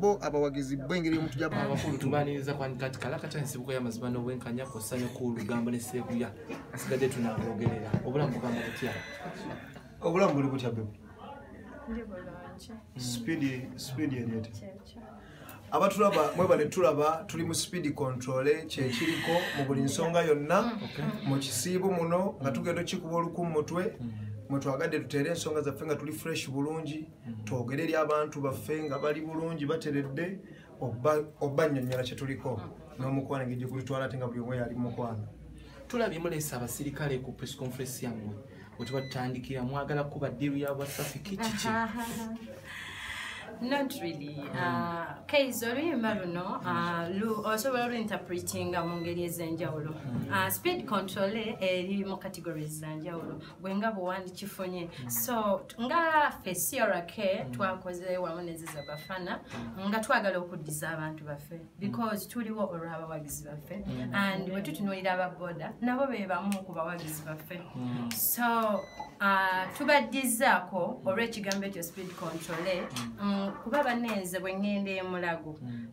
bo abawagizi bwengeri omuntu jaba abakulu tubaniriza kwandika ati kalaka kya nsibuko y'amazima n'obwenkanya kw'ossa ne ku lugambo ne seeguya asigadde tunabwogerera obulamu bugamba butya obulamu buli butya bebe sipiidi sipiidi eryete abatulaba mwebale tulaba tuli mu sipiidi kontole kyekiriko mu buli nsonga yonna mu kisiibu muno nga tugenda okikuba oluku mu mutwe mm. mwetwagadde tuteere ensonga zaffe nga tuli fresh bulungi mm-hmm. twogere eri abantu baffe nga bali bulungi bateredde oba nyonyola kyetuliko mm-hmm. n'omukwano engeri gyegulitwala ate nga buli omu yali mukwano tulabye mulesa abasirikale ku press conference yammwe wetuba tutandikira mwagala kuba diru ya wasafi kikiki not really mm. uh, kaizi oluyimba luno uh, osobola oluinterpretinga mu ngeri ez'enjawulo mm. uh, speed control eri mu categories zanjawulo gwe nga bwewandikifunye mm. so nga fe crk mm. twakoze wamu neziza bafana mm. nga twagala okuddiza abantu baffe because tuliwo olw'abawagizi baffe and wetutunuulira ababoda nabo be bamu ku bawagizi baffe so uh, tubaddizaako olw'ekigambo ekyo speed control eh, kuba banenze bwe ŋŋenda emulago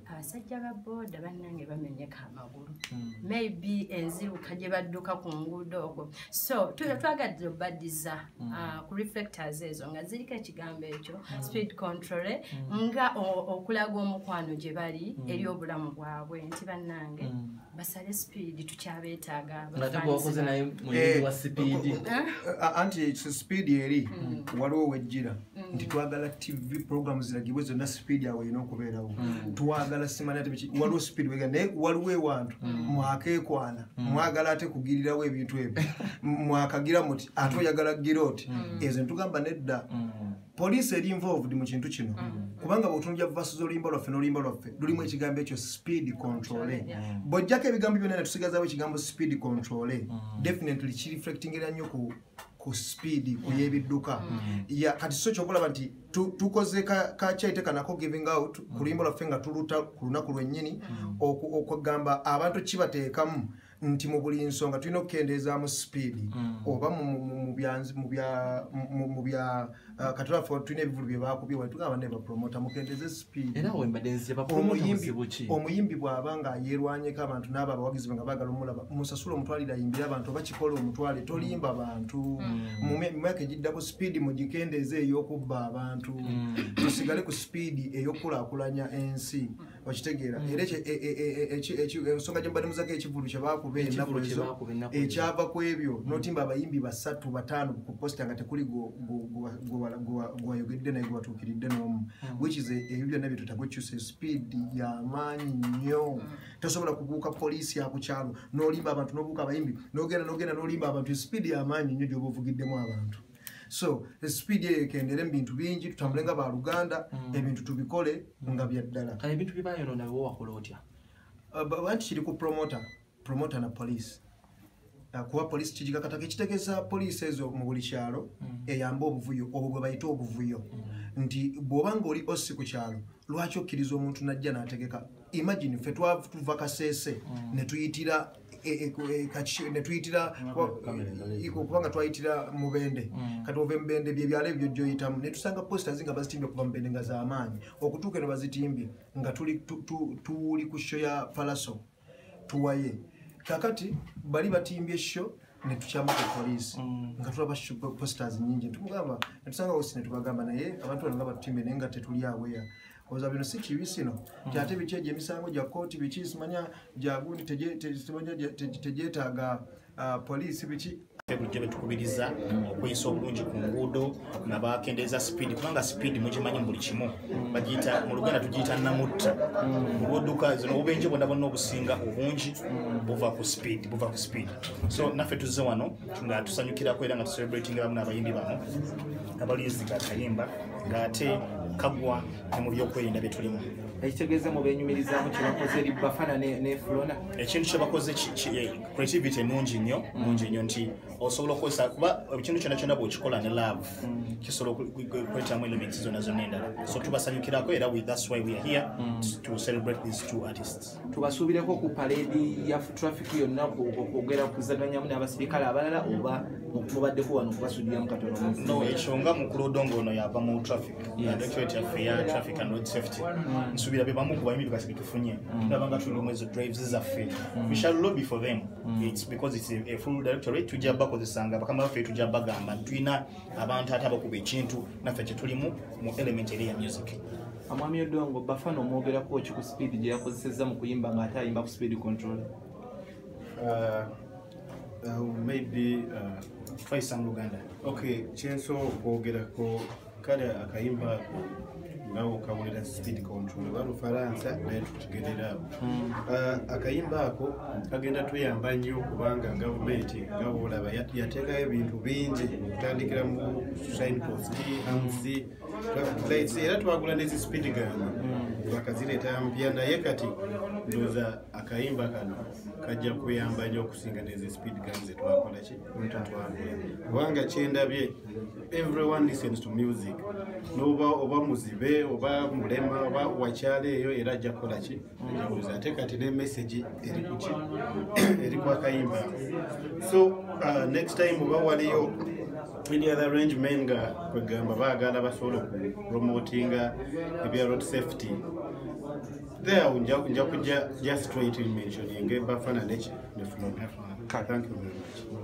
abasajja ba boda bannange bamenyeka amawa waggulu hmm. maybe enziruka gye badduka ku nguudo ogwo so tuyo twagadde obadiza hmm. ah, ku reflectors ezo nga ziriko ekigambo ekyo hmm. speed control eh, nga okulaga omukwano gye bali eri obulamu bwabwe nti bannange basale speed tukyabeetaaga eh, eh, anti speed eri waliwo wejjira Mm. nti twagala tv program ziragibwe zonna speed awo erina okubeerawo mm. twagala simanywaliwo speed wega naye waliwo ewantu mm. mwakekwana mwagala ate kugirirawo ebintu ebyo mwakagira muti ate oyagala gira oti ezo nitugamba nedda poliisi eri involved mu kintu kino kubanga bwetunja vasuza oluyimba lwaffe n'oluyimba lwaffe lulimu ekigambo ekyo speed controle bwojjako ebigambo byonna netusigazawo ekigambo speed controle definitely kireflectingira nnyo ku ku sipiidi ku yebidduka mm. kati so kyokulaba nti tukoze kakyaite kanako giving out mm. ku luyimbo lwaffe nga tuluta ku lunaku lwennyini mm. okugamba abantu kibateekamu nti mu buli nsonga tulina okukendeezaamu sipiidi oba mu bya Ah, katula fo tulina ebivulu bye baakubye wali tugamba ne bapromota mukendeze sipiidiomuyimbi bw'aba nga yeerwanyeko abantu n'abo abawagizi be nga baagala omulaba musasula omutwalire ayimbire abantu oba kikola omutwale tolimba bantu mm. mu myaka egiddako sipiidi mugikendeeze ey'okubba abantu mm. tusigale ku sipiidi ey'okukulaakulanya ensi okitegeera mm. era e, e, e, ensonga gyembalimuzako ekivulu kyebakuba enaku ezo ekyava ku ebyo mm. notimba abayimbi basatu bataano ku posita nga tekuli gwewayogedde naye gwewatuukiridde nomu mm. which is ebyo byonna byetutakukyusa speed yamaanyi nnyo tosobola kubuuka poliisi yakukyalo nolimba abantu nobuuka abayimbi nogenda nogenda nolimba abantu speed yamaanyi nnyo gyoba ovugiddemu abantu mm. so speed eyo ekendere mu bintu bingi tutambule nga baluganda mm. ebintu tubikole mm. nga byaddala kale ebintu byebayonona bewo wakola otya uh, anti kiri ku promoter promoter na police uh, kuba police kigikakatako ekitegeza police ezo mu buli kyalo mm. eyamba obuvuyo obwo bwe bayita obuvuyo nti bwoba nga oli osi ku kyalo lwaki okkiriza omuntu najja nategeka imagine fe twatuva kasese netuyitira netuyitira okuba nga twayitira mubende mm. kati ova emubende byebyalo ebyo gyoyitamu netusanga posters nga bazitimbye okuva mubende nga zamaanyi okutuuka eno bazitimbye nga tuli ku sho ya palaso tuwaye kakati bali batimbye sho netukyama ku poliisi mm. nga tulaba posters nyingi tumugamba netusanga osi netubagamba naye abantu bano nga batutimbe naye nga tetuli aweya oza bino si kibi sino hmm. kyate biki egyo emisango gya kooti biki simanya gyagundi tegyetaaga ah, poliisi biki bujja betukubiriza hmm. okweyisa obulungi ku nguudo nabakendeeza sipiidi kubanga sipiidi mugimanyi mu buli kimu hmm. bagiyita mu luganda tugiyita namutta olwoduka zino obubenje bwonna bwonna obusinga obungi buva ku sipiidi buva ku sipiidi so naffe tuzze wano nga tusanyukirako era nga tucelebrating abamu n'abayimbi bano abaliyuziga akayimba ng'ate kagwa ne mu byokwerinda bye tulimu ekitegeeza mu benyumirizamu kyebakoze eri bafana nefulona ekintu kyebakoze eh, creativity enungi nnyo mm. nungi nnyo nti osobola okukozesa kuba ekintu kyona kyona bwekikola ne love mm. kisobola okwetamu elements zona zonna endala so tubasanyukirako era thats why weare here mm. to celebrate these two artists tubasuubireko ku paleedi ya traffic yonna okwogera kuzaganyamu n'abasirikale abalala oba mubaddeko wano kubasudiramu katono no ekyo nga mukulu odongo ono yava mu traffic directorate yaffe ya traffic and road safety mm. nsuubira be bamu kuba emiriba zibitufunye mm. tulaba nga tulimu ezo drives zaffe mm. we shall lobby for them it's because it's a full directorate tujja bakozesanga bakama baffe tujja bagamba tulina abantu ate abakuba ekintu naffe kyetulimu mu element eri ya music amwami odongo bafana omwogerako ki ku speed gye yakozesezza mu kuyimba nga ate ayimba ku speed control uh, uh, maybe uh, faisa mu luganda ok kyenso okwogerako kale akayimba ako nawe okawulira speed control oba lufaransa naye tukigerera ako hmm. uh, akayimba ako kagenda tuyamba nnyo kubanga gavumenti nga bwolaba yateekayo ebintu bingi okutandikira mu signpost amc lights era twagula nezi speed gun mm. bakazireeta mpya naye kati ndoza akayimba kano kajja kuyamba nyo okusinga nezi speed gun zetwakola ki twagula kubanga kyendabye everyone listens to music noba oba muzibe oba mulema oba wakyalo eyo era ajja kukola ki njabuza ate kati ne message eri kuki eri kwa kayimba so uh, next time oba waliyo any other range men nga kwegamba baagala basobola okupromotinga ebya road safety there nja kujja just trying to mention enge bafana neki nefuna thank you very much